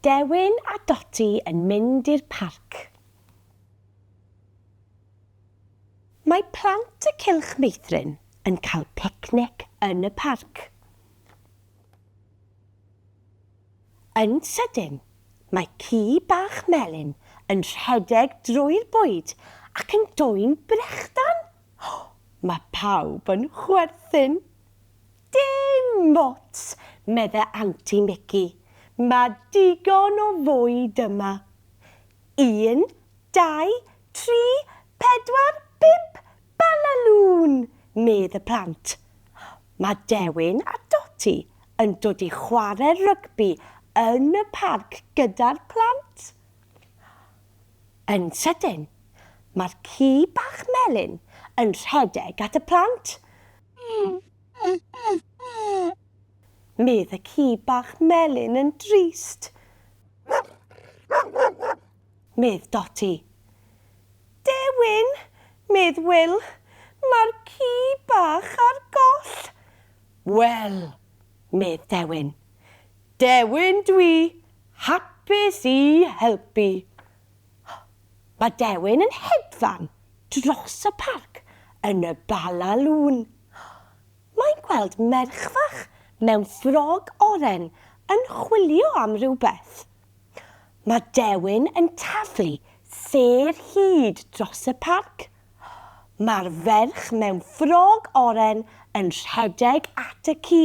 Dewin a Doti yn mynd i'r parc. Mae plant y Cylch Meithrin yn cael picnic yn y parc. Yn sydyn, mae ci bach melyn yn rhedeg drwy'r bwyd ac yn dwyn brechdan! Mae pawb yn chwerthin. Dim ots, medde Anti Mici, mae digon o fwyd yma. Un, dau, tri, pedwar, pump, Balalŵn! medd y plant. Mae Dewin a Doti yn dod i chware rygbi yn y parc gyda'r plant. Yn sydyn, mae'r ci bach melyn yn rhedeg at y plant. Medd y ci bach melyn yn drist. medd Dotty. Dewin! medd Wil, mae'r ci bach ar goll! Wel! medd Dewin. Dewin dwi, hapus i helpu. Mae Dewin yn hedfan dros y parc yn y Bala Lŵn. Mae'n gweld merch fach mewn ffrog oren yn chwilio am rywbeth. Mae Dewin yn taflu sêr hyd dros y parc. Mae'r ferch mewn ffrog oren yn rhedeg at y ci.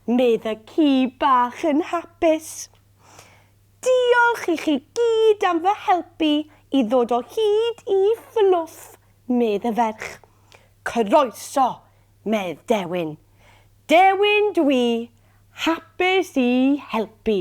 Medd y ci bach yn hapus. Diolch i chi gyd am fy helpu i ddod o hyd i Fluff, medd y ferch. Croeso, medd Dewin. Dewin dw i, hapus i helpu.